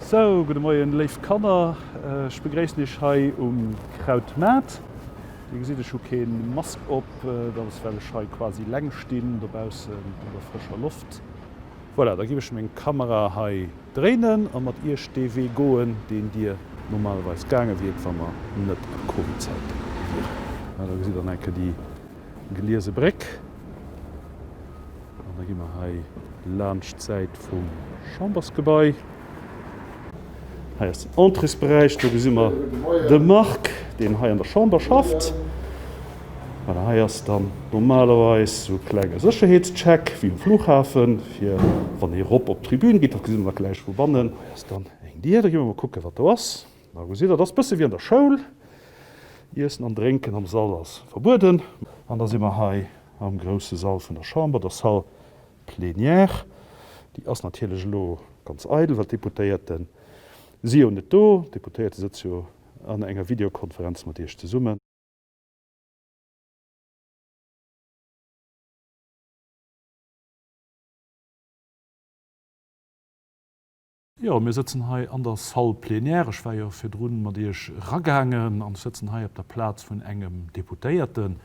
Sou, gudde Moien léif Kanner, ech begréissen iech hei um Krautmaart. Dir gesitt ech hu kee Mask op, dat ass well ech hei quasi leng stinn dobaussen an der frëscher Loft. Voilà, da giff ech meng Kamera hei dréinen a mat iech dee Wee goen, deen dir normalerweis gaange wiert, wa mer net a Covid-Zäite wieren. Da gesitt der nach eng Kéier déi Geliese Bréck an da gi mer hei laanscht d'Säit vum Chambersgebai. Hei ass den Entréesberäich, do gesi mer de Marc, deen hei an der Chamber schafft. Voilà, hei ass dann normalerweis esou e klenge Sécherheetscheck wéi um Flughafen, fir wann ee erop op d'Tribün geet. Dat gesi mer da gläich vu bannen. Hei ass dann eng Dier, da gi mer mol kucken, wat do ass. A gesitt, dat ass e bësse wéi an der Schoul. Iessen an Drénken am Sall ass verbueden. An da si mer hei am grousse Sall vun der Chamber, der Salle Plenière, déi ass natierlech elo ganz eidel, well d'Deputéierte si jo net do. D'Deputéierte sëtze jo an enger Videokonferenz mat Iech zesummen. Jo, mir sëtzen hei an der Salle plénière. Ech war jo virdru mat Iech eragaangen. An ech sëtzen hei op der Plaz vun engem Deputéierten.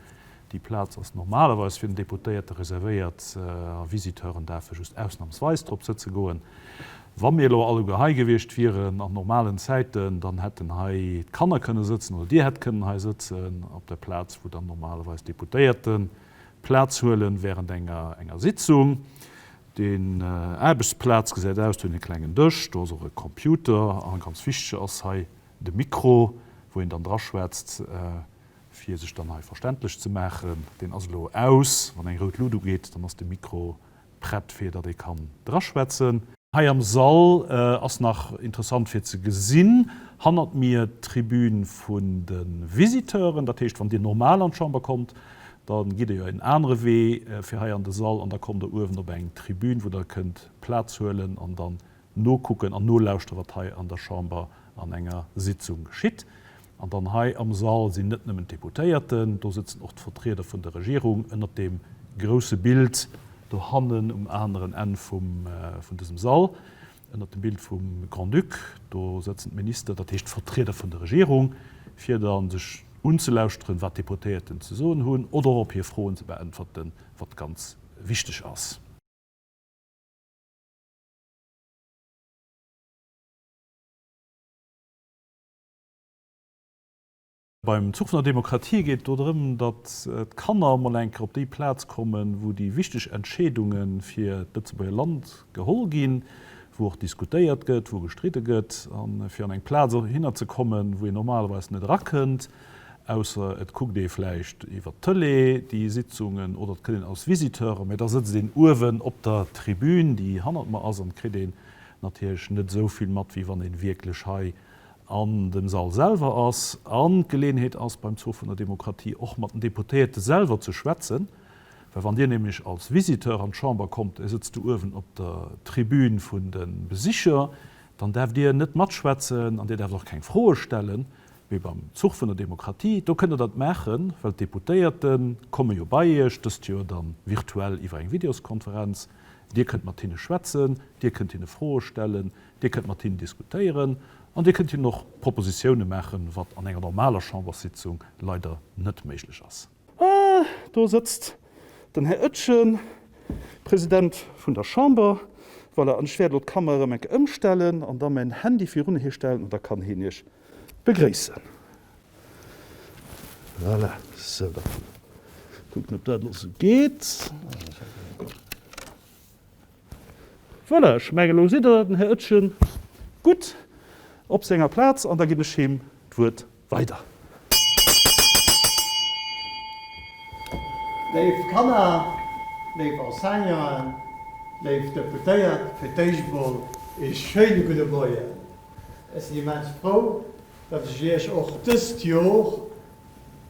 Déi Plaz ass normalerweis fir den Deputéierte reservéiert. A Visiteuren daerfe just ausnamsweis drop sëtze goen. Wa mir elo alleguer hei gewiescht wieren an normalen Zäiten, dann hätten hei d'Kanner kënne sëtzen oder Dir hätt kënnen hei sëtzen op der Plaz, wou dann normalerweis d'Deputéierten Plaz huelen während enger Sitzung. Deen Aarbechtsplaz gesäit aus, do hunn een klengen Dësch, do ass och e Computer an ganz wichteg ass hei de Mikro, wou een dann dra schwätzt, fir sech dann hei verständlech ze maachen. Deen ass elo aus. Wann eng rout Lut ugeet, dann ass de Mikro prett, fir datt ee kann dra schwätzen. Hei am Sall ass nach interessant fir ze gesinn, hannert mir d'Tribün vun de Visiteuren. Dat heescht, wann Dir normal an d'Chamber kommt, Da gitt Der jo en anere Wee fir hei an de Sall an da kommt Der uewen op eng Tribün, wou Der kënnt Plaz huelen an dann nokucken an nolauschteren, wat hei an der Chamber an enger Sitzung geschitt. An dann hei am Sall sinn net nëmmen d'Deputéierten, do sëtzen och d'Vertrieder vun der Regierung ënnert deem grouse Bild dohannen um aneren Enn vum vun dësem Sall. Ënnert dem Bild vum Grand-Duc, do sëtzen d'Minister, dat heescht d'Vertrieder vun der Regierung, fir da sech unzelauschteren, wat d'Deputéierten ze soen hunn oder och op hir Froen ze beäntwerten, wat ganz wichteg ass. Beim Zuch vun der Demokratie geet et do drëm, datt d'Kanner emol eng Kéier op déi Plaz kommen, wou déi wichteg Entscheedunge fir d'Lëtzebuerger Land geholl ginn, wou och diskutéiert gëtt, wou gestridde gëtt, a fir an eng Plaz hinner ze kommen, wou een normalerweis net erakënnt, ausser et kuckt ee vläicht iwwert d'Tëlee déi Sitzungen oder et kënnt een als Visiteur, mä da sëtzt een uewen op der Tribün, déi hannert mer ass, an kritt een natierlech net esou vill mat, wéi wann ee wierklech hei an dem Sall selwer ass an d'Geleeënheet ass, beim Zoo vun der Demokratie och mat den Deputéierte selwer ze schwätzen. Well wann Dir nämlech als Visiteur an d'Chamber kommt, Dir sëtzt do uewen op der Tribün vun de Besicher, dann däerft Dir net matschwätzen an Dir däerft och keng Froe stellen, mee beim Zuch vun der Demokratie, do kënnt Der dat maachen, well d'Deputéierte komme jo bei Iech, dëst Joer da virtuell iwwer eng Videoskonferenz, Dir kënnt mat hinne schwätzen, Dir kënnt hinne Froe stellen, Dir kënnt mat him diskutéieren an Dir kënnt him och Propositiounen maachen, wat an enger normaler Chamberssitzung leider net méiglech ass. Ah, do sëtzt den Här Oetjen, President vun der Chamber. Voilà, an ech wäert elo d'Kamera erëm eng Kéier ëmstellen an da mäin Handy virun hie stellen an da kann hien Iech begréissen. Voilà, sou, da kucken, ob dat elo sou geet. Voilà, ech menge lo sidd der den Här Oetjen gutt op senger Plaz an da ginn ech him d'Wuert weider. Léif Kanner, léif Enseignanten, léif Deputéiert, fir d'éischt emol ee schéine gudde Moien. Ech sinn immens frou, datt ech Iech och dëst Jor,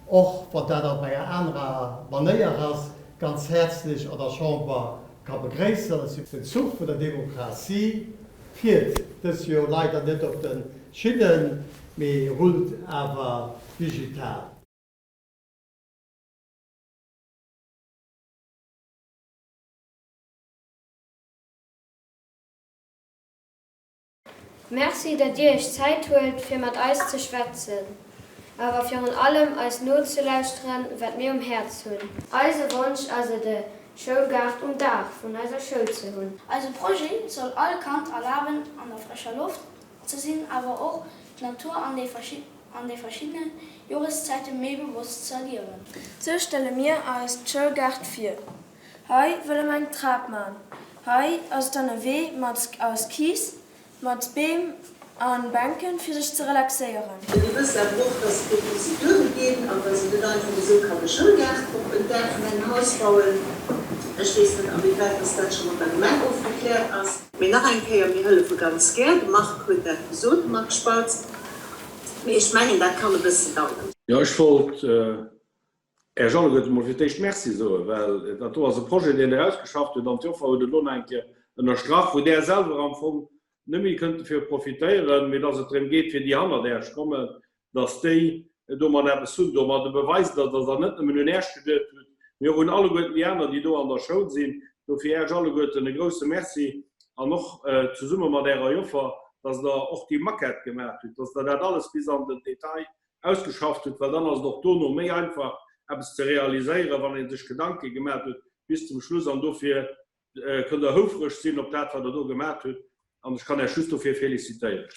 och wann dat op enger anerer Manéier ass, ganz häerzlech an der Chamber ka begréissen. Den Zuch vun der Demokratie fiert dës Joer leider net op de Schinnen, mee rullt awer digital. Merci dat dir iech Zäit huelt fir mat eis ze schwätzen, awer virun allem eis nozelauschteren wat mir um Häerz hunn. Eise Wonsch ass et e Schoulgaart um Daach vun eiser Schoul ze hunn. Eise Projet soll all Kand erlaben an der frescher Loft ze sinn awer och d'Natur an de verschiddene Joreszäite méi bewosst ze erliewen. Sou stelle mir eis d'Schoulgaart vir. Hei wëlle mer eng Trap man. Hei ass dann e Wee mat aus Kiiss, mat Beem a Bänken, fir sech ze relaxéieren. Dir wësst awer och, dass et do Prozeduren ginn an dass een net einfach esou kann e Schoulgaart op en Daach vun engem Haus bauen. Ech weess net, awéiwäit dass dat scho mat der Gemeng ofgekläert ass. Mee nach eng Kéier, Mir hëllefe ganz gär. De Marc huet dat gesot, de Marc Spautz. Mee ech mengen, dat kann e bëssen daueren. Jo, ech wollt Här Jean, ech wëllt emol fir d'éischt Merci soen, well dat do ass e Projet, deen Der ausgeschafft hutt, an d'Joffer huet et elo nach eng Kéier ënnerstrach, wou Der selwer am Fong net méi kënnt dovir profitéieren, mee dass et drëm geet, fir déi hannert Äerch kommen, dass déi domat eppes hunn. Domat e Beweis, dass Der net nëmmen un Äerch geduecht hutt, mee och un alleguerten déi aner, déi do an der Schoul sinn. Dofir Äerch alleguerten e grousse Merci an och zesumme mat Ärer Joffer, dass Der och déi Maquette gemaach hutt, dass Der dat alles bis an den Detail ausgeschafft huet, well dann ass et och dono méi einfach eppes ze realiséieren, wann ee sech Gedanke gemat huet bis zum Schluss. An dofir kënnt Der houfereg sinn op dat wat Der do gemat hutt an ech kann Äech just dofir felicitéieren.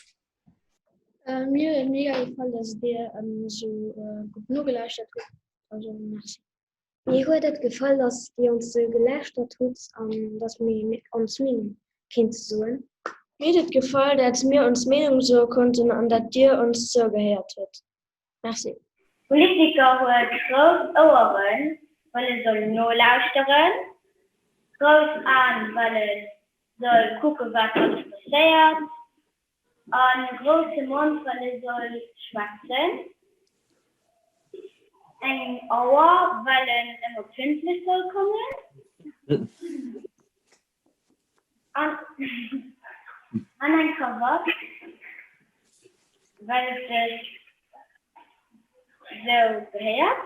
Mir huet et mega gefall, dass Dir esou gutt nogelauschert hutt. Also merci. Mir huet et gefall, dass Dir ons sou gelauschtert hutt an dass mir ons Meenung kéinte soen. Mir huet et gefall, dat mir ons Meenung soe konnten an dat Dir ons zougehéiert hutt. Merci. Politiker huet grouss Oueren, well e soll nolauschteren, grouss Aen, well e soll kucken, wat alles passéiert, En grousse Mond, well e soll schwätzen. Eng Auer, well en ëmmer pünktlech soll kommen. An eng Krawatt, well et sech esou gehéiert.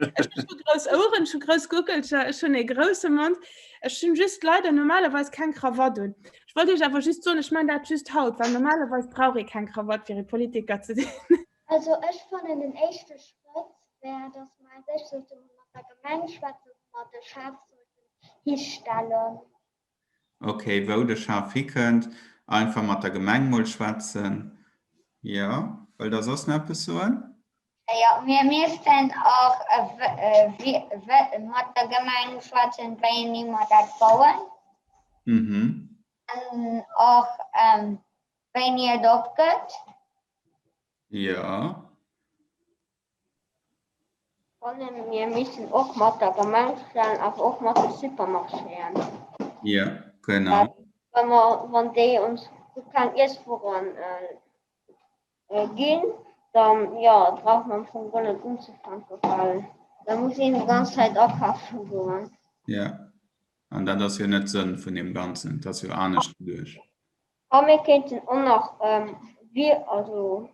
Ech hu grouss Oueren, ech hu grouss Guckelcher, ech hunn ee grousse Mond. Ech hunn just leider normalerweis keng Krawatt un. Ech wollt Iech awer just soen, ech man dat just haut, well normalerweis brauch ee keng Krawatt fir ee Politiker ze sinn. Also ech fannen den éischte Schrëtt wär, datt mer eng Séch sollten hunn, mat der Gemeng schwätzen, wou mer de Schaf sollten histellen. Ok, wou de Schaf hikënnt, einfach mat der Gemeng mol schwätzen. Jo, wëllt der soss nach eppes soen? Jo, mir missten och mat der Gemeng schwätzen, wéini mer dat bauen. Mhm. An och wéini et opgëtt. Jo. Fannen mir missen och mat der Gemengschaftssaal awer och mat de Supermarchéen. Jo genau. Well mer wann déi ons gutt keng Iesswueren ginn dann jo brauch mer am Fong guer net unzefänken well da muss een déi ganz Zäit akafen goen. Jo an dat ass jo net Sënn vun deem ganzen, et ass jo anescht geduecht. A mir kéinten och nach Vir, also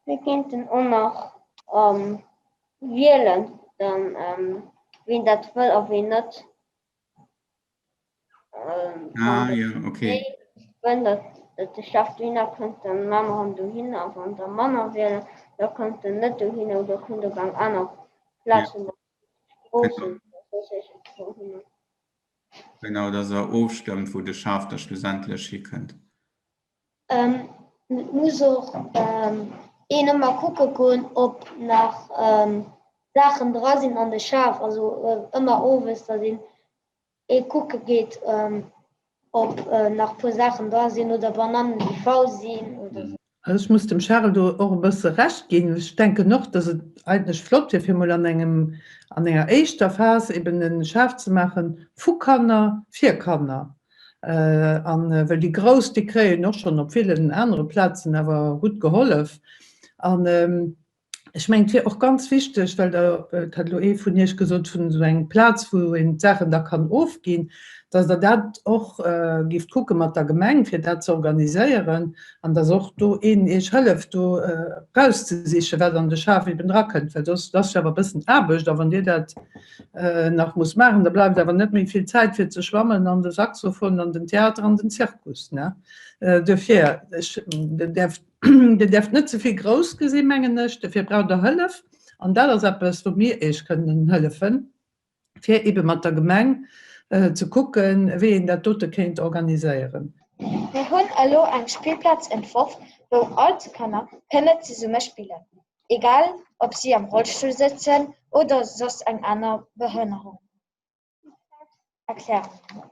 mir kéinten och nach wielen, dann wien dat wëll a wien net. Wann de Chef dohinner kënnt, da maache mer en dohin a wann der manner wielen, da kommt en net dohin oder kommt op eng aner Plaz, wou mer d'Stroossen oder soss iergendwou hinnen. Genau, dass Der ofstëmmt, wou de Schaf da schlussendlech hikënnt. Et muss och een ëmmer kucke goen, ob nach Saachen dra sinn an de Schaf. Also ëmmer owes, dass een ee kucke geet, ob nach e puer Saachen dra sinn oder Banannen, déi faul sinn oder sou. Also ech muss dem Charel do och e bësse Recht ginn. Ech denken och, dass et eigentlech flott wier, fir emol an engem, an enger éischter Phas eben e Schaf ze maache vu Kanner fir Kanner. An well déi Grouss, déi kréien och schonn op villen anere Plazen awer gutt gehollef. An Ech mengen, et wier och ganz wichteg, well Der, et hat elo ee vun Iech gesot, vun esou engem Plaz, wou een d'Saachen da kann ofginn, dass Der dat och géift kucke mat der Gemeng, fir dat ze organiséieren an dass och do een Iech hëlleft, do erauszesichen, wat an de Schaf eben drakënnt. Well soss, et ass jo awer e bëssen Aarbecht a wann Dir dat nach musst maachen, da bleift awer net méi vill Zäit fir ze schwammen an de Saxophon an den Theater an den Zirkus, ne? Duerfir, ech, Der däerft. Dir däerft net ze vill grouss gesinn, mengen ech. Dofir braucht Der Hëllef. An dat ass eppes, wou mir Iech kënnen hëllefen, fir eebe mat der Gemeng ze kucken, wéi een dat dote kéint organiséieren. Mir hunn elo eng Spillplaz entworf, wou all d'Kanner kënne zesumme spillen, egal ob si am Rollstull sëtzen oder soss eng aner Behënnerung. D'Spillplaz erklären.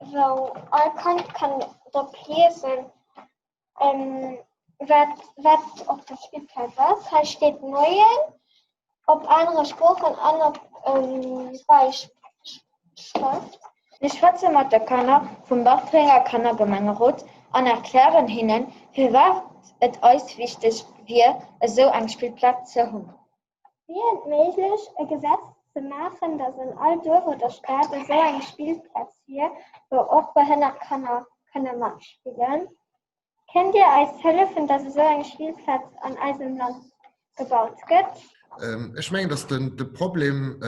wou all Kand kann drop liesen, wat op der Spillplaz ass. Hei steet Moien op anere Sproochen an op Bäischrëft. Mir schwätze mat de Kanner vum Bartrenger Kannergemengerot an erklären hinnen, firwat et eis wichteg wier, esou eng Spillplaz ze hunn. Wier et méiglech, e Gesetz ze maachen, datt an all Duerf oder Stad esou eng Spillplaz wier, wou och behënnert Kanner kënne matspillen? Kënnt Dir eis hëllefen, datt esou eng Spillplaz an eisem Land gebaut gëtt? Ech mengen, datt de Problem,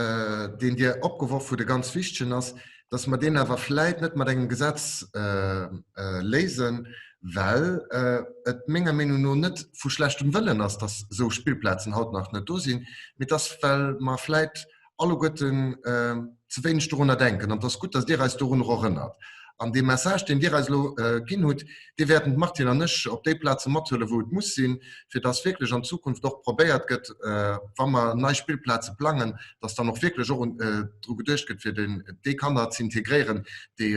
deen Dir opgeworf hutt, e ganz wichtegen ass. dass mer deen awer vläit net mat engem Gesetz léisen, well et menger Meenung no net vu schlechtem Wëllen ass, dass esou Spillplazen haut nach net do sinn, mee dass, well mer vläit alleguerten ze wéineg dorunner denken. An et ass gutt, dass Dir eis dorunner erënnert. An dee Message, deen Dir eis elo ginn hutt, Déi wäerten d'Martine an ech op déi Plaze mathuelen, wou et muss sinn, fir dass wierklech an Zukunft och probéiert gëtt, wa mer nei Spillplaze plangen, dass dann och wierklech och dru geduecht gëtt, fir déi Kanner ze integréieren, déi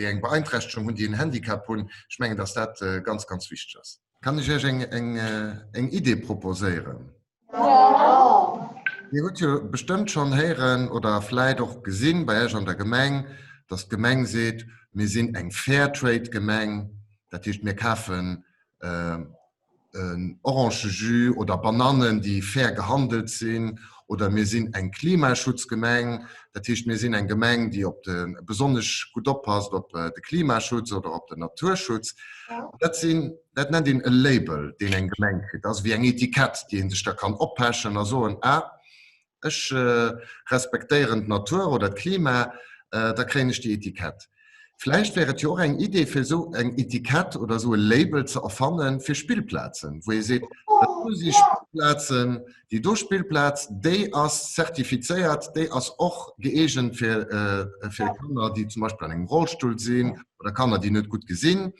eng Beeinträchtegung hunn, déi en Handicap hunn. Ech mengen, dass dat ganz, ganz wichteg ass. Kann ech Iech eng Idee proposéieren? Dir hutt jo bestëmmt schonn héieren oder vläit och gesinn bei Iech an der Gemeng, dass d'Gemeng seet, mir sinn eng Fairtrade-Gemeng, dat heescht, mir kafen en Orangejus oder Banannen, déi fair gehandelt sinn, oder mir sinn eng Klimaschutzgemeng, dat heescht, mir sinn eng Gemeng, déi besonnesch gutt oppasst op de Klimaschutz oder op den Naturschutz. Dat sinn dat nennt een e Label, deen eng Gemeng kritt. Dat ass ewéi eng Etikett, déi ee sech da kann oppechen a soen, ah, ech respektéieren d'Natur oder d'Klima, da kréien ech déi Etikett. Vläicht wär et jo och eng Idee, fir esou eng Etikett oder esou e Label ze erfanne fir Spillplazen, wou ee seet, dat do si Spillplazen, Déi do Spillplaz, déi ass zertifizéiert, déi ass och gëeegent fir fir Kanner, déi zum Beispill an engem Rollstull sinn oder Kanner, déi net gutt gesinn.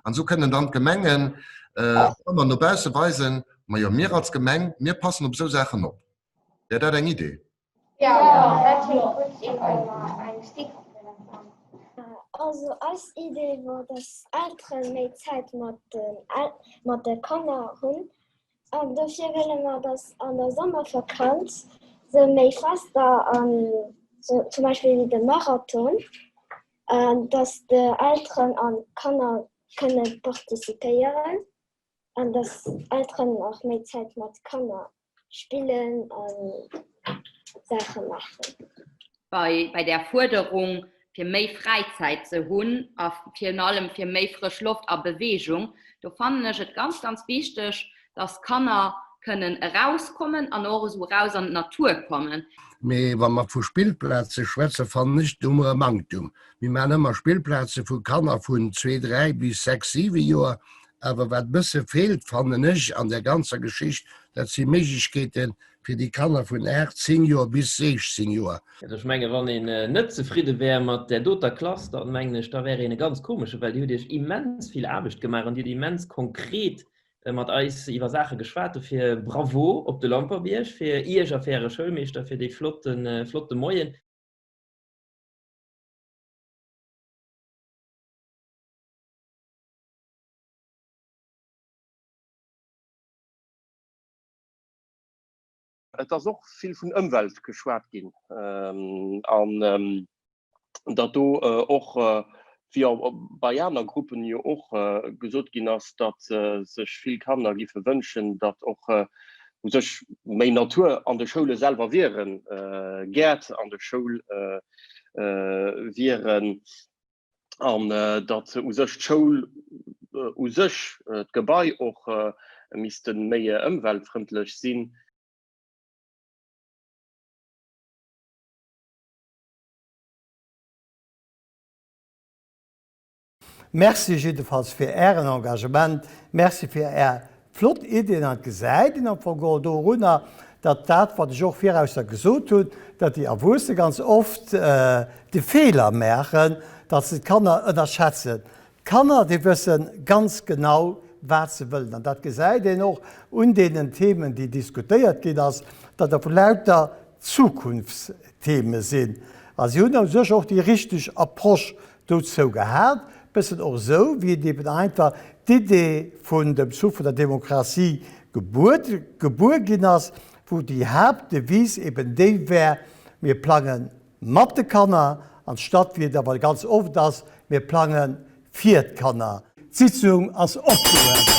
An esou kënnen dann d'Gemengen ëmmer no bausse weisen, majo mir als Gemeng, mir passen op esou Saachen op. Wär dat eng Idee? Jo, dat kléngt gutt. Dir kënnt mer eng Stickerfeder bauen. Also eis Idee wor, dass Eltere méi Zäit mat de Kanner hunn an dofir wëlle mer, dass an der Sommervakanz se méi Fester an zum Beispill wéi de Marathon, dass d'Elteren an d'Kanner kënne participéieren an dass Elteren och méi Zäit mat Kanner spillen a Saache maachen. Bei där Fuerderung, fir méi Fräizäit ze hunn a virun allem fir méi frësch Loft a Beweegung, do fannen ech et ganz, ganz wichteg, datt d'Kanner kënnen erauskommen an och esou eraus an d'Natur kommen. Mee wa mer vu Spillplaze schwätzen, fannen ech, do hu mer e Manktum. Mir maachen ëmmer Spillplaze vu Kanner vun zwee, dräi bis sechs, siwe Joer. Awer wat e bësse feelt, fannen ech, an där ganzer Geschicht, dat si Méiglechkeete fir déi Kanner vun 8, 10 Joer bis 16 Joer. Ech menge wann een net zefridde wär mat där doter Klass, da mengen ech, da wär een e ganz komesche, well Dir hutt Iech immens vill Aarbecht gemaach an Dir hutt immens konkret mat eis iwwer Saache geschwat. Dofir Bravo op de Lamperbierg fir Iech a fir Äre Schoulmeeschter fir dee flotte Moien. Et ass och vill vun Ëmwelt geschwat ginn an datt do och, wéi bei aner Gruppen jo och gesot ginn ass, datt sech vill Kanner géife wënschen, datt och u sech méi Natur an de Schoule selwer wieren, Gäert an de Schoule wieren. an datt u sech d'Schoul u sech, d'Gebai och misste méi ëmweltfrëndlech sinn. Merci jiddefalls fir Ären Engagement. Merci fir Är Flott Ideen an gesäit een am Fong och dorunner, datt dat wat ech och viraus da gesot hunn, datt déi Erwuesse ganz oft de Feeler maachen, datt se d'Kanner ënnerschätzen. D'Kanner déi wësse ganz genau wat se wëllen an dat gesäit een och un deenen Themen déi diskutéiert ginn ass, datt der vu lauter Zukunftstheme sinn a si hunn u sech och déi richteg Approche Dozou gehallt, bessen och esou wéi et eben einfach d'Idee vun dem Souffle vun der Demokratie gebuer ginn ass, wou déi Haaptdevise eben déi wär, mir plange mat de Kanner, anstatt wéi et awer ganz oft ass, mir plange fir d'Kanner. D'Sitzung ass opgehuewen.